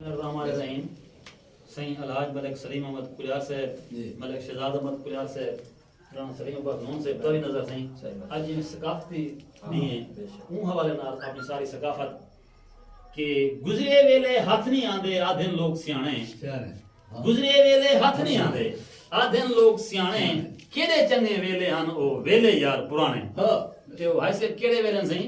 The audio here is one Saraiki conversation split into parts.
الرحمن الرحیم سائیں الحاج ملک سلیم احمد کلیار صاحب جی۔ ملک شہزاد احمد کلیار صاحب رانا سلیم عباس نون صاحب تاوی نظر سائیں صحیح بات۔ اج جی ثقافتی ہاں، نہیں ہے بے شک۔ اون حوالے نال اپنی ساری ثقافت کہ گزرے ویلے ہتھ نہیں آندے آدھن لوگ سیانے سیانے ہاں۔ گزرے ویلے ہتھ نہیں آندے آدھن لوگ سیانے کیڑے چنگے ویلے ہن او ویلے یار پرانے ہاں۔ تے او ہائے سے کیڑے ویلے ہن سائیں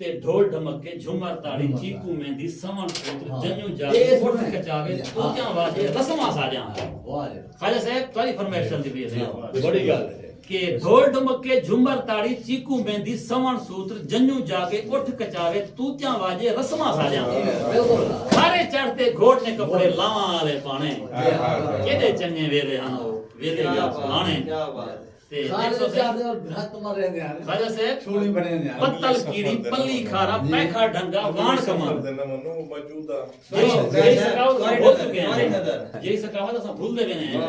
تے ڈھول ڈھمکے جھمر تاڑی چیکوں میندی سوݨ پے توں جنوں جاوے اٹھ کچاوے پوجاں واجے رسماں ساجاں خواجہ صاحب تہاڈی فرمائش چلدی پئی ہے بڑی گل کہ ڈھول ڈھمکے جھمر تاڑی چیکوں میندی سوݨ سوتر جنوں جاوے اٹھ کچاوے توتیاں واجے رسماں ساجاں سارے چڑھ تے گھوڑ نے کپڑے لاواں والے پانے کیڈے چنگے ویلے ہن او ویلے یا پرانے کھارے دے چار دے ول بھرت مر رہے دے ہن خواجہ صاحب چھوڑی بنے دے ہن پتل کیری پلی کھارا پیکھا ڈھنگا وان کمان موجودہ جی سکاو بھول چکے ہیں جی سکاو تسا بھول دے بنے ہیں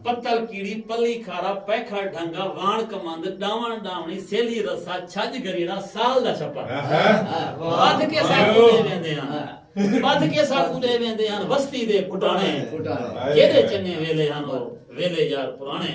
پتل کیری پلی کھارا پیکھا ڈھنگا وان کمان دے ڈاوان ڈاونی سیلی رسا چھج گریڑا سال دا چھپا بات کے ساتھ بھول دے بنے ہیں بات کے ساتھ بھول دے بنے ہیں وستی دے پھٹانے جیرے چنے ویلے ہن ویلے یار پرانے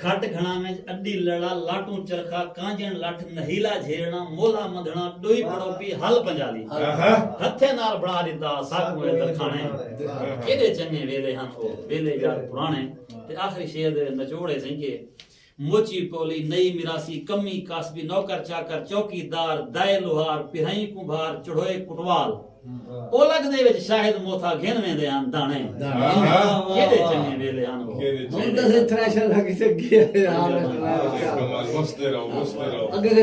کھٹ گھنڑاں وچ اڈی لڑا لاٹوں چرخا کانجݨ لٹھ نہیلا جھیرݨاں مولھا مدھنڑاں ڈوئی پڑوپی ہل پنجالی ہتھیں نال بنڑا ڈتا ساکوں اے درکھانڑے کیڈے چنگے ویلے ہن او ویلے یار پرانے تے آخری شعر دے نچوڑ اے سئیں کہ موچی پولی نئی مراسی کمی کاسبی نوکر چاکر چوکی دار دائے لوہار پرھائیں کوں بھار چڑھوئے کٹوال اولگ دے وچ شاہد موتھا گھن ویندے ہن دانے کیڑے چنگے ویلے ہن وہ ہن تے تھریشر لگی تے گیا یار بستے رہو بستے رہو